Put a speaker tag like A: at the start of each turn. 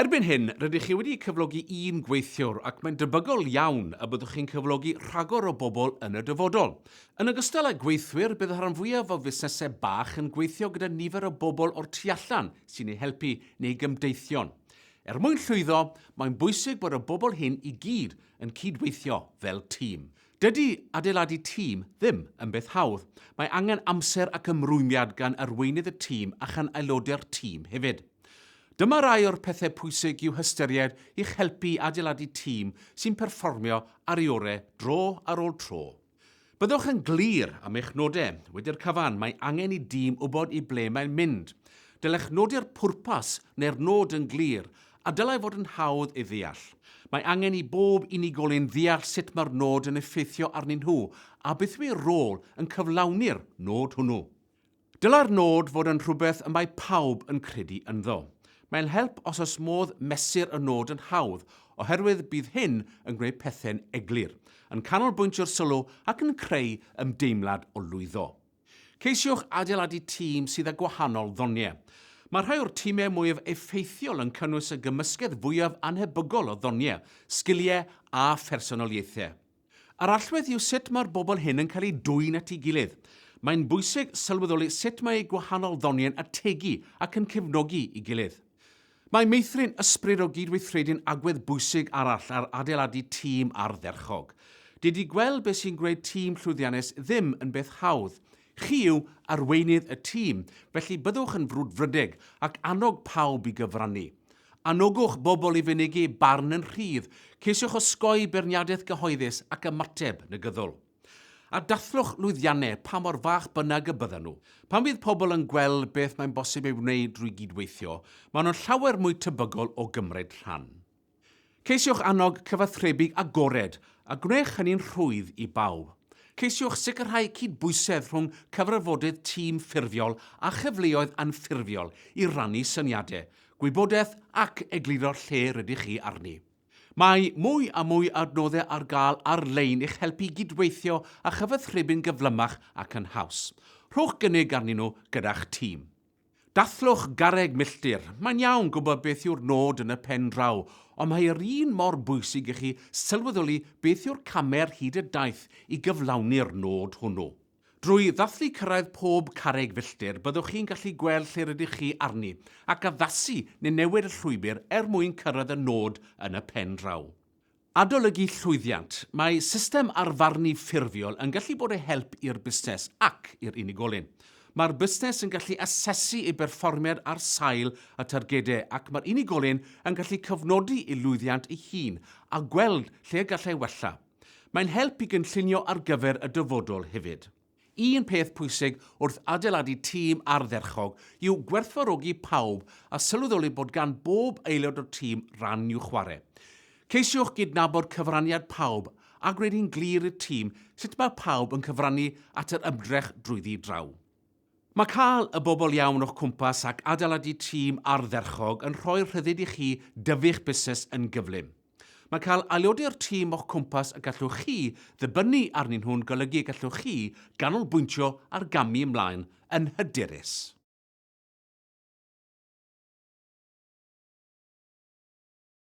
A: Erbyn hyn, rydych chi wedi cyflogi un gweithiwr ac mae'n debygol iawn y byddwch chi'n cyflogi rhagor o bobl yn y dyfodol. Yn ogystal â gweithwyr, bydd y rhan fwyaf o fusnesau bach yn gweithio gyda nifer o bobl o'r tu allan sy'n eu helpu neu gymdeithion. Er mwyn llwyddo, mae'n bwysig bod y bobl hyn i gyd yn cyd-weithio fel tîm. Dydy adeiladu tîm ddim yn beth hawdd. Mae angen amser ac ymrwymiad gan arweinydd y tîm a chan aelodau'r tîm hefyd. Dyma rai o'r pethau pwysig i'w hystyried i'ch helpu i adeiladu tîm sy'n perfformio ar ei orau dro ar ôl tro. Byddwch yn glir am eich nodau. Wedi'r cyfan, mae angen i dîm wybod i ble mae'n mynd. Dylech nodi'r pwrpas neu'r nod yn glir A dylai fod yn hawdd ei ddeall. Mae angen i bob unigolyn ddeall sut mae'r nod yn effeithio arnyn nhw a beth yw eu rôl yn cyflawni'r nod hwnnw. Dylai'r nod fod yn rhywbeth y mae pawb yn credu ynddo. Mae'n help os oes modd mesur y nod yn hawdd oherwydd bydd hyn yn gwneud pethau'n eglur, yn canolbwyntio'r sylw ac yn creu ymdeimlad o lwyddo. Ceisiwch adeiladu tîm sydd â gwahanol ddoniau. Mae rhai o'r timau mwyaf effeithiol yn cynnwys y gymysgedd fwyaf annhebygol o ddoniau, sgiliau a phersonoliaethau. Yr allwedd yw sut mae'r bobl hyn yn cael eu dwyn at ei gilydd. Mae'n bwysig sylweddoli sut mae eu gwahanol ddoniau'n ategu ac yn cefnogi ei gilydd. Mae meithrin ysbryd o gydweithredu'n agwedd bwysig arall ar adeiladu tîm ardderchog. Dydy gweld beth sy'n gwneud tîm llwyddiannus ddim yn beth hawdd. Chi yw arweinydd y tîm, felly byddwch yn frwdfrydig ac annog pawb i gyfrannu. Anogwch bobl i fynegi barn yn rhydd, ceisiwch osgoi beirniadaeth gyhoeddus ac ymateb negyddol. A dathlwch lwyddiannau, pa mor fach bynnag y byddan nhw. Pan fydd pobl yn gweld beth mae'n bosib ei wneud drwy gydweithio, maen nhw'n llawer mwy tebygol o gymryd rhan. Ceisiwch annog cyfathrebu agored, a gwnewch hynny'n rhwydd i bawb. Ceisiwch sicrhau cydbwysedd rhwng cyfarfodydd tîm ffurfiol a chyfleoedd anffurfiol i rannu syniadau, gwybodaeth ac egluro lle rydych chi arni. Mae mwy a mwy adnoddau ar gael ar-lein i'ch helpu i gydweithio a chyfathrebu'n gyflymach ac yn haws. Rhowch gynnig arnyn nhw gyda'ch tîm. Dathlwch garreg milltir. Mae'n iawn gwybod beth yw'r nod yn y pen draw, ond mae yr un mor bwysig i chi sylweddoli beth yw'r camau ar hyd y daith i gyflawni'r nod hwnnw. Drwy ddathlu cyrraedd pob carreg filltir, byddwch chi'n gallu gweld lle rydych chi arni, ac addasu neu newid y llwybr er mwyn cyrraedd y nod yn y pen draw. Adolygu llwyddiant, Mae system arfarnu ffurfiol yn gallu bod o help i'r busnes ac i'r unigolyn. Mae'r busnes yn gallu asesu ei berfformiad ar sail y targedau ac mae'r unigolyn yn gallu cofnodi ei lwyddiant ei hun a gweld lle y gallai wella. Mae'n help i gynllunio ar gyfer y dyfodol hefyd. Un peth pwysig wrth adeiladu tîm ardderchog yw gwerthfawrogi pawb a sylweddoli bod gan bob aelod o'r tîm ran i'w chwarae. Ceisiwch gydnabod cyfraniad pawb a gwneud hi'n glir i'r tîm sut mae pawb yn cyfrannu at yr ymdrech drwyddi draw. Mae cael y bobl iawn o'ch cwmpas ac adeiladu tîm ardderchog yn rhoi'r rhyddid i chi dyfu'ch busnes yn gyflym. Mae cael aelodau o'r tîm o'ch cwmpas y gallwch chi ddibynnu arnyn nhw'n golygu y gallwch chi ganolbwyntio ar gamu ymlaen yn hyderus.